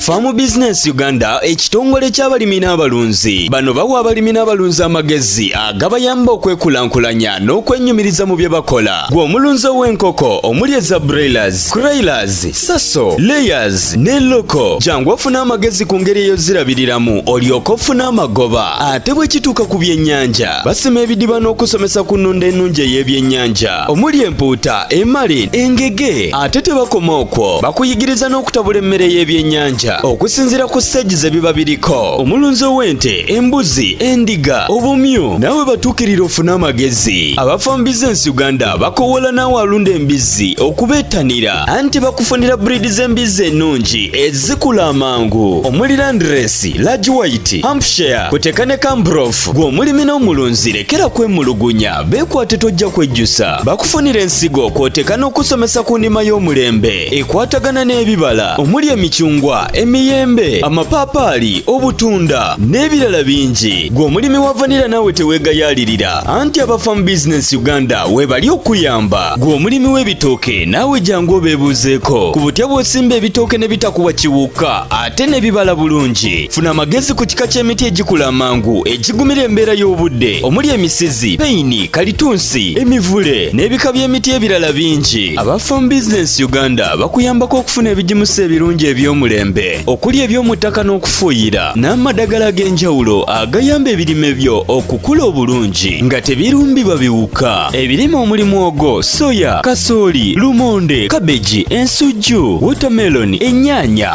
Farm Business Uganda ekitongole ky'abalimi n'abalunzi bano bawa abalimi n'abalunzi amagezi agabayamba okwekulaakulanya n'okwenyumiriza mu bye bakola gwe omulunzi ow'enkoko omuli eza broilers, croilers, saso, layers ne loko jangu ofuna amagezi ku ngeri eyozirabiriramu olyoka ofuna amagoba ate bwe kituuka ku byennyanja basima ebidiba n'okusomesa ku nnunda ennungi ey'ebyennyanja omuli empuuta emali engege ate tebakoma okwo bakuyigiriza n'okutabula emmere y'ebyennyanja okusinziira ku siteegi ze biba biriko omulunzi ow'ente embuzi endiga obumyu naawe batuukirira ofune amagezi abafa mu bizinensi uganda bakowoola naawe alunda embizzi okubeettanira anti bakufunira buriidi z'embizzi ennungi ezikula amangu omuli landiresi lagi wayiti hampshire kuteka ne kambrof gw'omulimi n'omulunzi lekera kwemulugunya Beekwate tojja kwejjusa bakufunira ensigo kw'oteeka n'okusomesa ku nnima y'omulembe ekwatagana n'ebibala omuli emicungwa emiyembe amapaapaali obutunda n'ebirala bingi gwe omulimi wa vanira naawe teweegayaalirira anti abafamu bizinensi uganda weebali okuyamba gwe omulimi w'ebitooke naawe jangu obeebuuzeeko ku butya bw'osimba ebitooke ne bitakuwa kiwuka ate ne bibala bulungi funa amagezi ku kika ky'emiti egikula amangu egigumira embeera y'obudde omuli emisizi peyini kalitunsi emivule n'ebika by'emiti ebirala bingi aba farm business uganda bakuyambako okufuna ebigimusa ebirungi eby'omulembe okuli eby'omu ttaka n'okufuuyira n'amadagala ag'enjawulo agayamba ebirime byo okukula obulungi nga tebirumbibwa biwuka ebirime omuli mwogo soya kasooli lumonde kabeji ensujju wotameloni ennyaanya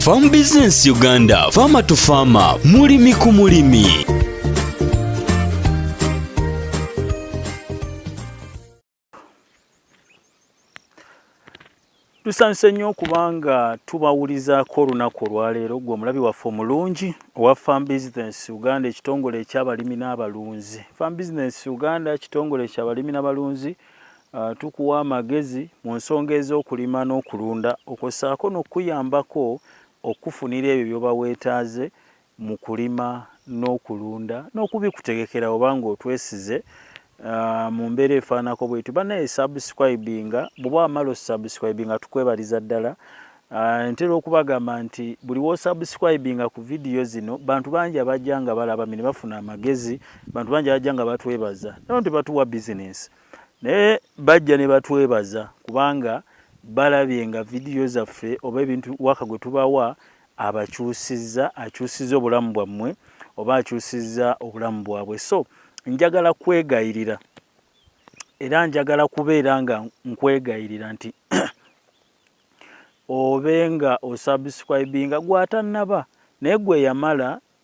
Farm Business Uganda, Farmer to Farmer, mulimi ku mulimi. Tusanse nnyo kubanga tubawulizaako olunaku olwaleero gwe omulabi waffe omulungi owa Farm Business Uganda ekitongole ekyabalimi n'abalunzi. Farm Business Uganda kitongole ekyabalimi n'abalunzi Uh, tukuwa amagezi mu nsonga ez'okulima n'okulunda okwo ssaako n'okukuyambako okufunira ebyo byoba weetaaze mu kulima n'okulunda n'okubikutegekera oba ng'otwesize uh, mu mbeera efaanako bwetu banaye subscribinga bwoba wamala osubscribinga tukwebaliza ddala uh, ntera okubagamba nti buli wosubscribinga ku vidiyo zino bantu bangi abajja nga balaba mi ne bafuna amagezi bantu bangi abajja nga batwebaza naye nti batuwa bizinensi naye bajja ne batwebaza kubanga balabye nga vidiyo zaffe oba ebintu waka gwe tubawa abakyusizza akyusizza obulamu bwammwe oba akyusizza obulamu bwabwe so njagala kwegayirira era njagala kubeera nga nkwegayirira nti obe nga osubscribinga gwatannaba naye gwe yamala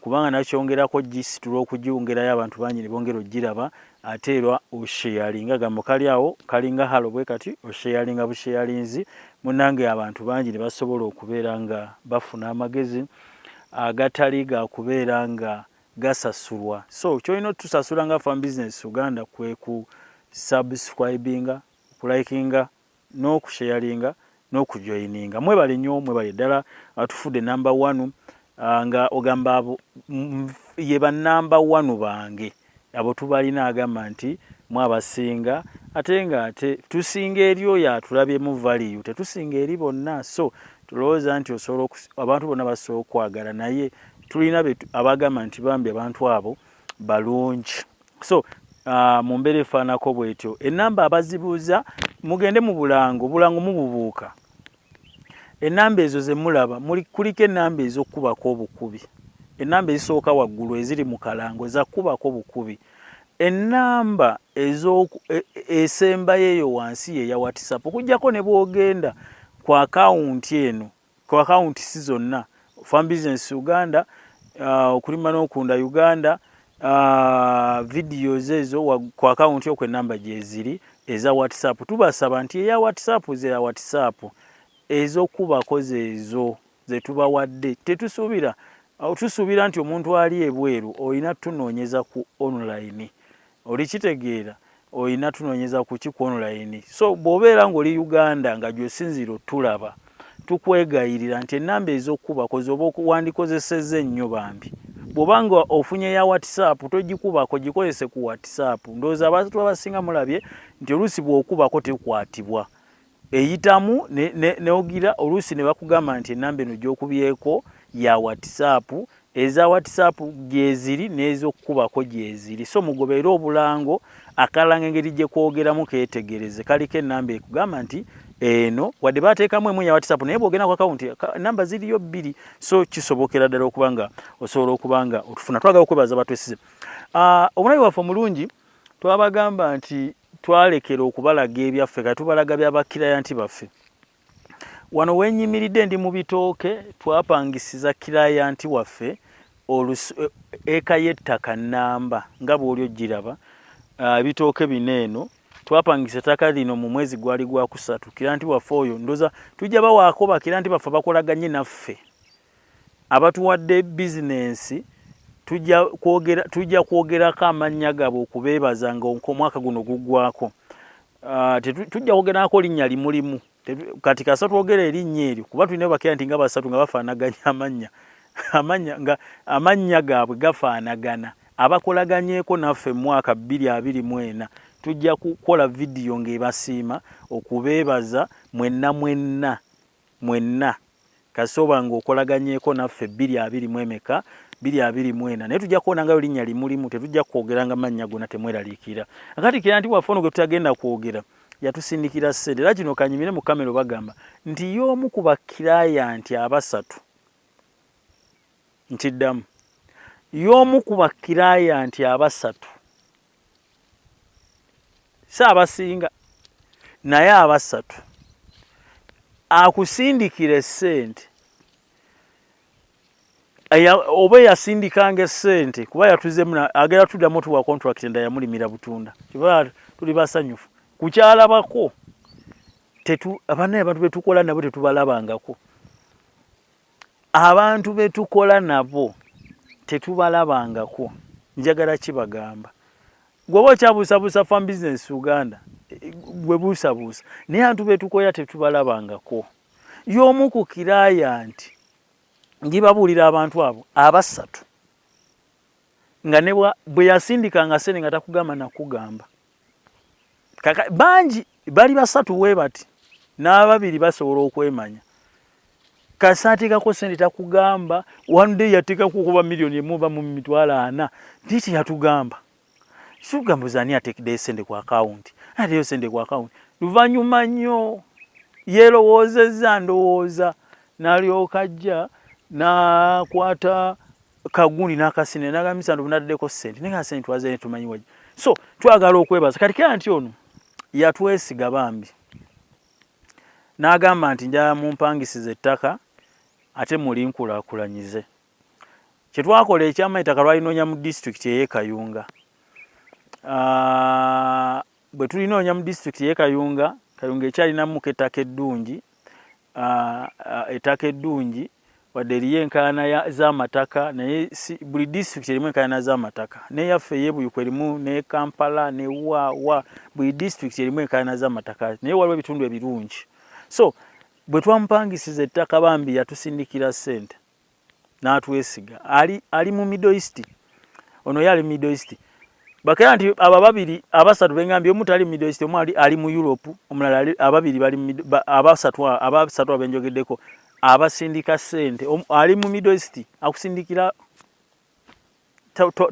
kubanga nakyongerako gisitula okugiwongerayo abantu bangi ne bongera okugiraba ate era osheyalinga ga mukali awo kalinga halo bwe kati osheyalinga busheyalinzi munange abantu bangi ne basobola okubeera nga bafuna amagezi agatali ga kubeera nga gasasulwa so kyolina otusasula nga fan business uganda kwe ku subscribinga okulikinga n'okusheyalinga n'okujoyininga mwebale nyo mwebale ddala uh, tufudde namba wanu uh, nga ogamba ye banamba wanu bange abo tubalina agamba nti mwabasinga ate nga ate tusinga eri oyo atulabyemu valiyu tetusinga eri bonna so tulowooza nti osobola abantu bonna basobola okwagala naye tulina abagamba nti bambi abantu abo balungi so uh, mu mbeera efaanako bwetyo enamba abazibuuza mugende mu bulango obulango mububuuka enamba ezo zemulaba kuliko enamba ezokukubako obukubi enamba ezisooka waggulu eziri mu kalango zakukubako bukubi enamba e, esembayo eyo wansi yeya whatsapp okujjako ne bwogenda ku akawunti eno ku akawunti si zonna farm business uganda uh, okulima n'okunda uganda uh, videos ezo ku akawunti okwe namba gyeziri eza whatsapp tubasaba nti eya whatsapp zeya whatsapp ezokubako zeezo zetubawadde tetusuubira tusuubira nti omuntu ali ebweru olina tunoonyeza ku online olikitegeera olina tunonyeza kuki kwonolayini so bwobeera ngaoli uganda nga gyosinziira otulaba tukwegayirira nti enamba ezokukubako zoba wandikozeseza ennyo bambi bwoba nga ofunye ya whatsapp togikubako gikozese ku whatsapp ndowooza abantu abasinga mulabye nti oluusi bwokubako tekwatibwa eyitamu neogira ne, ne oluusi ne bakugamba nti enamba eno gyokubyeko ya whatsapp eza whatsapp gyeziri n'ezokukubako gyeziri so mugobeere obulango akalanga engeri gyekwogeramu ketegereze kaliko enamba ekugamba nti eno wadde bateekamu emu ya whatsapp naye bwogenda ku akawunti namba ziriyo bbiri so kisobokera ddala okuba nga osobola okuba nga otufuna twagala okwebaza batwesize ah, omunabi waffe omulungi twabagamba nti twalekera okubalaga ebyaffe kati tubalaga bya bakirayanti baffe wano wenyimiridde ndi mu bitooke twapangisiza kirayanti waffe eh, eka y'ettaka nnamba nga bw'oli ogiraba ah, ebitooke bino eno twapangisa ettaka lino mu mwezi gwali gwakusatu kirayanti waffe oyo ndoza tujja bawaako bakirayanti baffe bakolaganye naffe Abatuwadde bizinensi tujja kwogerako amannya gaabwe okubeebaza nga omwaka guno guggwako. Ah, tujja kwogerako linnya limulimu kati kasa twogera erinnya eryo kuba tulina bakira nti nga basatu nga bafaanaganya amannya amannya nga amannya gaabwe gafaanagana abakolaganyeeko naffe mu mwaka bbiri abiri mu ena tujja kukola vidiyo ng'ebasiima okubeebaza mwenna mwenna mwenna kasita oba nga okolaganyeko naffe bbiri abiri mu emeka bbiri abiri mu ena naye tujja kuwona ngayo linnya limulimu tetujja kwogeranga mannya gona temweraliikira akati kira nti waffe ono gwe tutagenda kwogera yatusindikira ssente era kino kanyimire mu kamero bagamba nti y'omu ku bakirayanti abasatu nkiddamu y'omu ku bakirayanti abasatu si abasinga naye abasatu akusindikira esente oba eyasindikanga esente kuba yatuzemu agera tuddamu tuwa contract enda yamulimira butunda kiba tuli basanyufu kukyalabako abanaye abantu betukola nabo tetubalabangako abantu betukola nabo tetubalabangako njagala kibagamba gwoba okyabuusabuusa fam business uganda gwe buusabuusa naye antu betukoya tetubalabangako y'omu ku kiraya nti ngibabuulira abantu abo abasatu nga ne bwe yasindikanga sente nga takugamba nakugamba kaka bangi bali basatu we bati n'ababiri basobola okwemanya kasi ateekako sente takugamba one day yateekako okuba miliyoni emu oba mu mitwalo ana naye teyatugamba sikugamba zani ateekeddeyo sente ku akawunti ateeyo sente ku akawunti luvannyuma nnyo yeerowoozezza ndowooza n'alyoka ajja n'akwata na kagundi nakasine nagamisa ndo nadeko sente ninga sente twaze tumanyi waje so twagala okwebaza kati kya nti ono yatwesiga bambi nagamba nti nja mumpangisize ettaka ate muli nkulakulanyize kye twakola ekyama ettaka lwalinonya mu district eye kayunga ah, bwe tulinoonya mu district eye kayunga kayunga ekyalinamuko ettaka eddungi ettaka eddungi wadde eriyo enkaayana z'amataka naye buli disitulikiti erimu enkaayana z'amataka neyaffe eyebuyuku erimu ne kampala ne waawa buli disitulikiti erimu enkaayana z'amataka naye waliwo ebitundu ebirungi so bwe twamupangisiza ettaka bambi yatusindikira ssente n'atwesiga ali, ali mu middle east ono ye ali mu middle east bakera nti abo ababiri abasatu bengambye omu tali mu middle east omu ali, ali mu europe omulala ali, ababiri bali ba, abasatu abasatu abenjogeddeko abasindika sente ali mu middle east akusindikira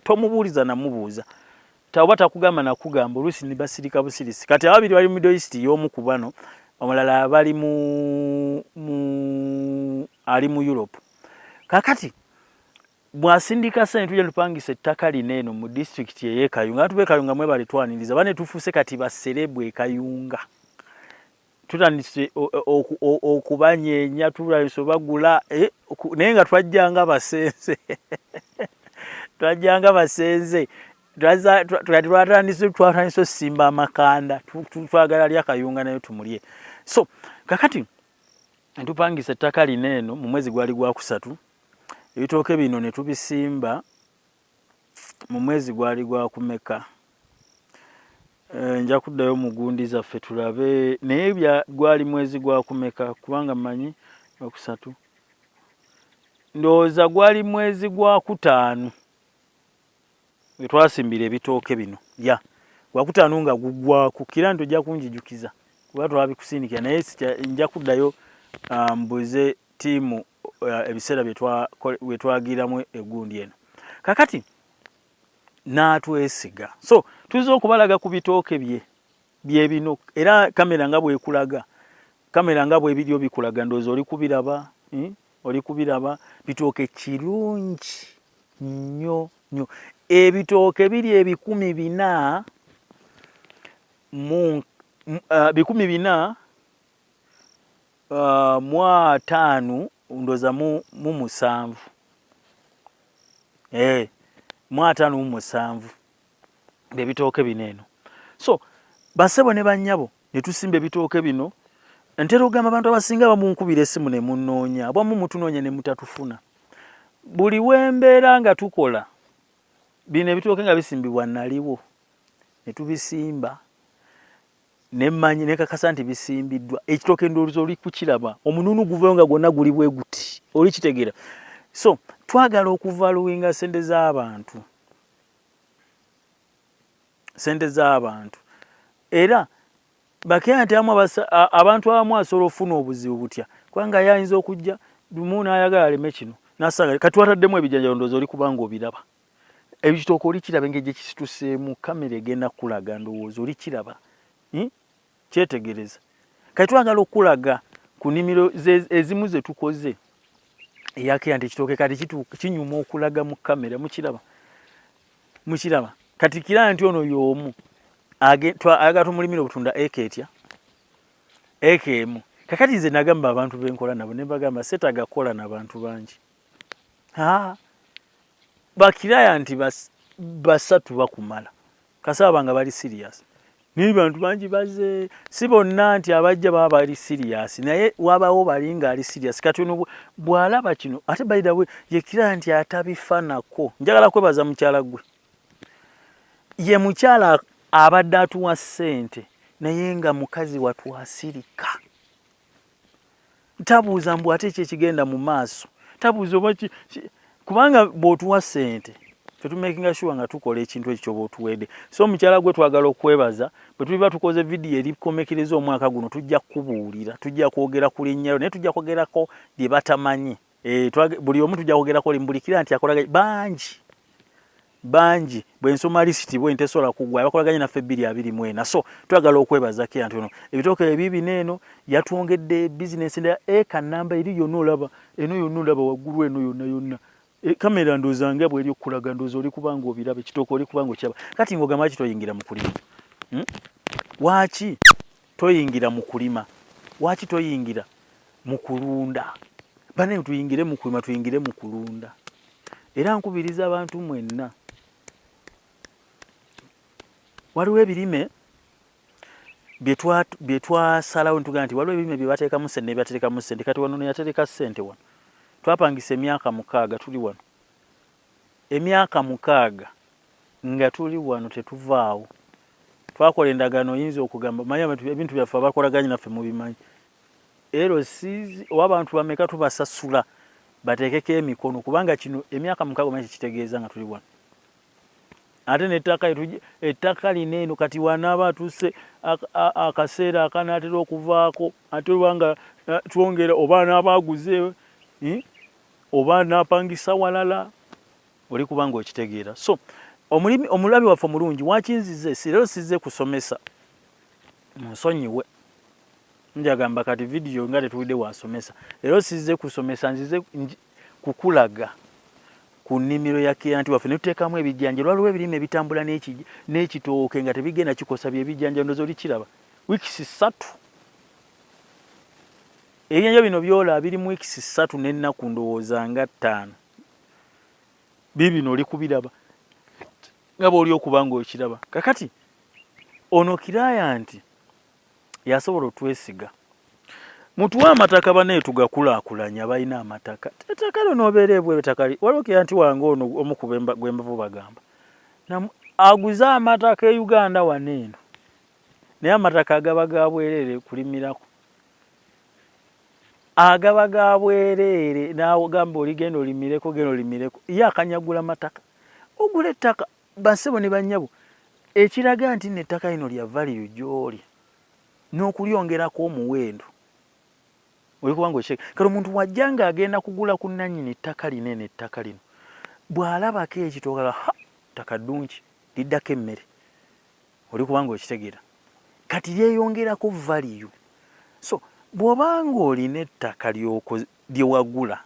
tomubuuliza namubuuza oba takugamba nakugamba oluusi nibasirika busirisi kati ababiri bali middle east yomu ku bano omulala bali mu ali mu europe kakati bwasindika sente tujja tupangisa ettaka lino eno mu disitulikiti eyekayunga atuba ekayunga mwebali twaniriza bane tufuuse kati baserebu ekayunga tutandise okubanyeenya tutandise obagula eh, naye nga twajjanga basenze twajjanga basenze twatandise twatandise osimba amakanda twagala lya kayunga nayo tumulye so kakati ntupangisa ettaka lino eno mu mwezi gwali gwakusatu ebitooke bino ne tubisimba mu mwezi gwali gwakumeka eh, nja kuddayo mu gundi zaffe tulabe naye gwali mwezi gwakumeka kubanga manyi okusatu ndowooza gwali mwezi gwakutaano wetwasimbira ebitooke bino ya gwakutaano nga gugwaku kira nti ojja kunjijukiza kuba twabikusindikira naye nja kuddayo ah, mbuze tiimu uh, ebiseera byetwagiramu egundi eno kakati n'atwesiga so tuyinza okubalaga ku bitooke bye byebino era kamera nga bwekulaga kamera nga bwebiri obikulaga ndoozi oli kubiraba hmm? oli kubiraba bitooke kirungi nnyo nnyo ebitooke biri ebikumi bina mu uh, bikumi bina uh, mu ataano ndoza mu musanvu eh, mu ataano mu musanvu ebitooke bino eno so basebo ne banyabo ne tusimba ebitooke bino ntera okugamba abantu abasinga bamunkubira esimu ne munnoonya bwamu mutunoonya ne mutatufuna buli wembeera nga tukola bino ebitooke nga bisimbibwa naliwo ne tubisimba nemanyi nekakasa nti bisimbiddwa ekitoke ndowooza oli kukiraba omununu guvayo nga gwonna guli bwe guti oli kitegeera so twagala okuvaluwinga sente z'abantu sente z'abantu era bakeera nti amu abantu abamu asobola okufuna obuzibu butya kubanga yayinza okujja lumu n'ayagala aleme kino nasanga kati wataddemu ebijanjalo ndowooza oli kubanga obiraba Ebitooke olikiraba engeri gye kisituseemu, kamera egenda kukulaga ndowooza, olikiraba hmm? kyetegereza. Kati twagala okukulaga ku nimiro ezimu ze tukoze eyakeya nti ekitooke kati kinyuma okulaga mu kamera, mukiraba mukiraba kati kira nti ono y'omu ayagala tumulimira obutunda eka etya eka emu kakati nze nagamba abantu benkola nabo ne bagamba setagakola nabantu bangi bakiraya nti basatu bakumala kasaba nga bali serious naye bantu bangi baze si bonna nti abajja baba bali serious naye wabawo bali nga ali serious kati ono bwalaba kino ate baidawe yekira nti atabifanako njagala kwebaza mukyala gwe ye mukyala abadde atuwa sente naye nga mukazi watwasirika tabuuza mbu ate kyekigenda mu maaso tabuuza oba kubanga bwotuwa sente fetumakinga sure nga tukola ekintu ekyo kyoba otuwede so omukyala gwe twagala okwebaza bwetuliba tukoze vidiyo erikomekereza omwaka guno tujja kukubuulira tujja kwogera ku linnyayo naye tujja kwogerako bye batamanyi Eh, buli omu tujja kwogerako oli mubulikira nti akolaganye bangi bangi bwensoma lisiti bwe ntesobola kugwa abakolaganye naffe ebbiri abiri mu ena so twagala okwebaza kira nti ono ebitooke ebiibina eno yatwongedde bizinensi endala eka namba eri yonna olaba eno yonna olaba waggulu eno yonna yonna e, kamera ndooza nga bweri okukulaga ndooza oli kubanga obiraba ekitooke oli kubanga okiraba kati ng'ogamba ki toyingira mu kulima hmm? waaki Toyingira mu kulima. Waki toyingira mu kulunda? Bane tuyingire mu kulima, tuyingire mu kulunda. Era nkubiriza abantu mwenna. Waliwo ebirime bye twasalawo ne tugamba nti waliwo ebirime bye bateekamu ssente ne byaterekamu ssente. Kati wano neyatereka ssente wano. Twapangisa emyaka mukaaga tuli wano. Emyaka mukaaga nga tuli wano tetuvaawo. Twakola endagaano oyinza okugamba manya ebintu byaffe abakolaganye naffe mubimanyi. LC oba abantu bameka tubasasula bateekeko emikono kubanga kino emyaka mukaaga omanyi kikitegeeza nga tuli wano. Ate n'ettaka ettaka lino eno kati wanaaba atuuse akaseera akanaatera okuvaako ate oba nga eh, twongera oba anaaba aguze eh, oba napangisa walala oli kubanga okitegeera so omulimi omulabi waffe omulungi wakinzize sirero size kusomesa munsonyiwe njagamba kati vidiyo nga tetuwidde wasomesa lero size kusomesa nzize kukulaga ku nnimiro ya kiyanti waffe netuteekamu ebijanja olwaliwo ebirime ebitambula n'ekitooke nga tebigenda kikosa byebijanja ndoza olikiraba wiikisi ssatu Ebyenja bino byola biri mu weeks ssatu n'ennaku ndowooza nga ttaano biibino oli kubiraba nga bwoli okuba nga okiraba kakati ono kiraya nti yasobola otwesiga mutuwe amataka banaye tugakulaakulanya balina amataka ettaka lyo nobeera ebweru ettaka waliwo kira nti wange ono omu gwembavu bagamba aguze amataka e uganda wano eno naye amataka agaba gabwerere kulimirako agaba ga bwereere n'agamba oligenda olimireko genda olimireko ye akanyagula mataka ogula ettaka bassebo ne bannyabo ekiraga nti nettaka lino lya valiyo gy'oli n'okulyongerako omuwendo olikuba nga okyeka kale omuntu wajja ng'agenda kugula ku nnannyini ttaka lino eno ettaka lino bw'alabako ekitooka ha ttaka ddungi liddako emmere oli kubanga okitegera kati lyeyongerako valiyu so bwoba nga olina ettaka lyewagula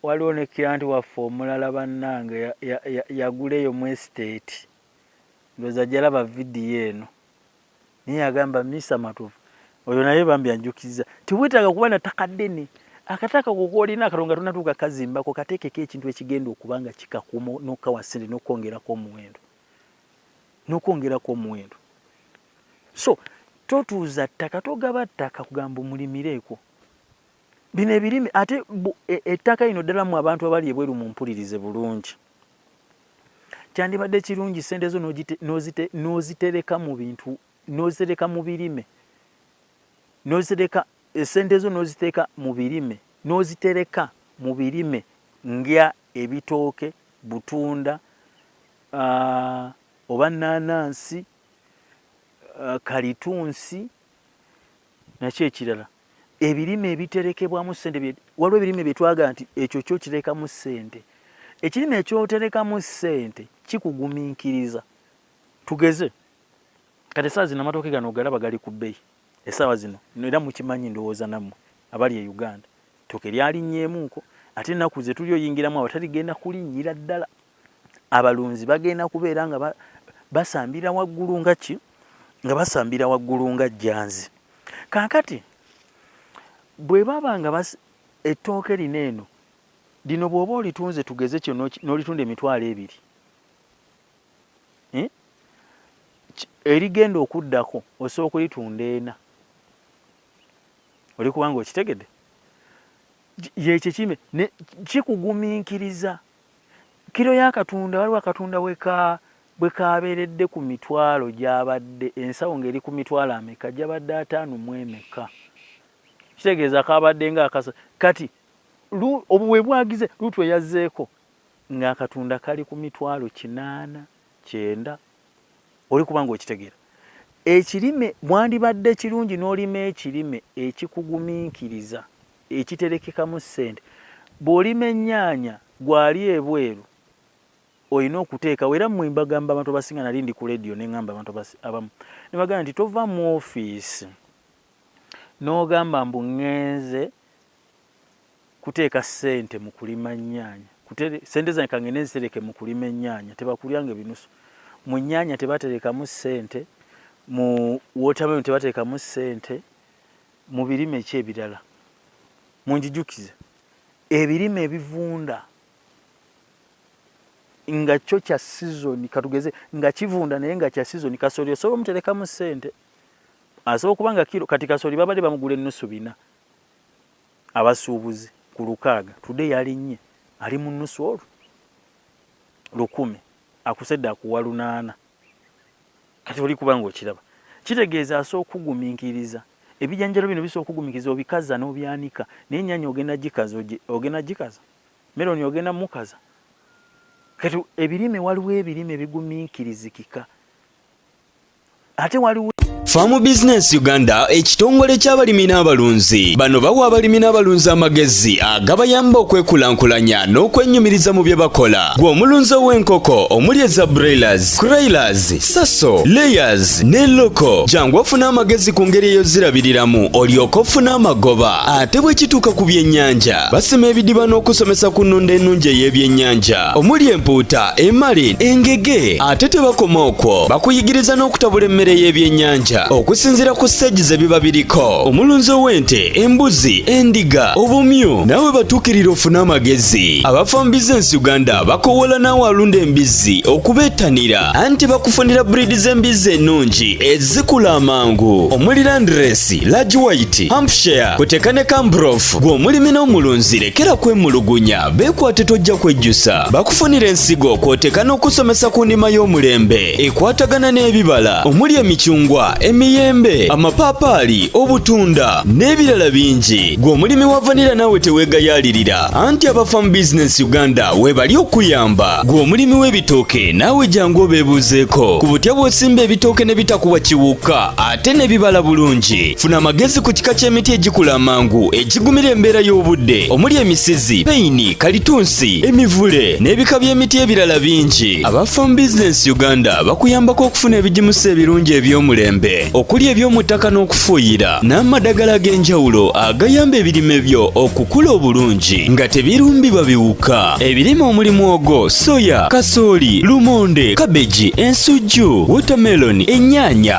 waliwo ne kiranti waffe omulala bannange yagula eyo mu estate ndoza jalaba vidiyo eno naye agamba Mister Matovu oyo naye bambi anjukiza tiwetaaga kuba na ttaka ddene akataka kokolina akatonga tonatuuka kazimbako kateekeko ekintu ekigenda okuba nga kikakuma nokawa sente nokwongerako omuwendo nokwongerako omuwendo so totuuza ttaka togaba ttaka kugamba omulimireko bino ebirime ate e, ettaka lino ddala mu abantu abali ebweru mumpulirize bulungi kyandibadde kirungi sente zo n'ozitereka mu bintu n'ozitereka mu birime n'ozitereka e, sente zo n'oziteeka mu birime n'ozitereka mu birime nga ebitooke butunda oba nanaansi kalitunsi nakyo ekirala ebirime ebiterekebwamu sente waliwo ebirime byetwaga nti ekyo kyo kirekamu sente ekirime ekyoterekamu sente kikuguminkiriza tugeze kati esaawa zino amatooke gano ogalaba gali ku bbeyi esaawa zino era mukimanyi ndowooza nammwe abali e uganda tooke lyalinyeemuuko ate ennaku zetuli oyingiramu awo taligenda kulinnyira ddala abalunzi bagenda kubeera nga basambira waggulu nga ki nga basambira waggulu nga jjanzi kaakati bwe baba nga ettooke lino eno lino bw'oba olitunze tugeze kyo n'olitunda emitwalo ebiri eh? erigenda okuddako osobola okulitunda ena oli kubanga okitegede yekyo kime kikugumiikiriza kiro ya katunda waliwo akatunda weka bwe kabeeredde ku mitwalo gyabadde ensawo ng'eri ku mitwalo ameka gyabadde ataano mu emeka kitegeeza kabadde nga akasa kati obuwe bwagize luutu eyazzeeko ng'akatunda kali ku mitwalo kinaana kyenda oli kuba ng'okitegeera ekirime mwandibadde kirungi n'olima ekirime ekikugumiikiriza ekiterekekamu ssente bw'olima ennyaanya gwali ebweru olina okuteekawo era mmwe mbagamba abantu abasinga nali ndi ku lediyo ne ŋŋamba abantu abamu ne bagamba nti tova mu ofiisi n'ogamba mbu ŋŋenze kuteeka ssente mu kulima ennyaanya ssente zange kangende nzitereke mu kulima ennyaanya tebakulyanga ebinusu mu nnyaanya tebaterekamu ssente mu wotameroni tebaterekamu ssente Mu birime ki ebirala? Munjijukize ebirime ebivunda nga kyo kya sizoni, katugeze nga kivunda naye nga kya sizoni. Kasooli osobola omuterekamu ssente, asobola okuba nga kiro. Kati kasooli babadde bamugula ennusu bina abasuubuzi ku lukaaga, tude yalinnye ali mu nnusu olwo lukumi akusedde akuwa lunaana. kati oli kuba ng'okiraba kitegeeza asobola okugumiikiriza ebijanjalo bino bisobola okugumiikiriza obikaza n'obyanika naye ennyanya ogenda gikaza ogenda gikaza meroni ogenda mukaza kati ebirime waliwo ebirime bigumiikirizikika ate waliwo Farm Business Uganda ekitongole ky'abalimi n'abalunzi bano bawa abalimi n'abalunzi amagezi agabayamba okwekulaakulanya n'okwenyumiriza mu bye bakola gwe omulunzi ow'enkoko omuli eza broilers, croilers, saso, layers ne loko jangu ofuna amagezi ku ngeri eyozirabiriramu olyoka ofuna amagoba ate bwe kituuka ku byennyanja basima ebidiba n'okusomesa ku nnunda ennungi ey'ebyennyanja omuli empuuta emali engege ate tebakoma okwo bakuyigiriza n'okutabula emmere y'ebyennyanja okusinziira ku siteegi ze biba biriko omulunzi ow'ente embuzi endiga obumyu nawe batuukirira ofune amagezi abafamu bizinensi uganda bakowoola naawe alunda embizzi okubeettanira anti bakufunira buriidi z'embizzi ennungi ezikula amangu omuli landiresi lagi wayiti hampshire kuteeka ne kambrof gw'omulimi n'omulunzi lekera kwemulugunya Beekwate tojja kwejjusa bakufunira ensigo kw'oteeka n'okusomesa ku ndima y'omulembe ekwatagana n'ebibala omuli emicungwa emiyembe amapaapaali obutunda n'ebirala bingi gwe omulimi wa vanira naawe teweegayaalirira anti aba farm business uganda weebali okuyamba gwe omulimi w'ebitooke naawe jangu obeebuuzeeko ku butya bw'osimba ebitooke ne bitakuwa kiwuka ate n'ebibala bulungi funa amagezi ku kika ky'emiti egikula amangu egigumira embeera y'obudde omuli emisizi peyini kalitunsi emivule n'ebika by'emiti ebirala bingi aba farm business uganda bakuyambako okufuna ebigimusa ebirungi eby'omulembe okuli eby'omu ttaka n'okufuuyira n'amadagala ag'enjawulo agayamba ebirime byo okukula obulungi nga tebirumbibwa biwuka ebirime omuli mwogo soya kasooli lumonde kabeji ensujju wotameloni ennyaanya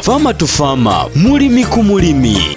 Farmer to Farmer, mulimi ku mulimi.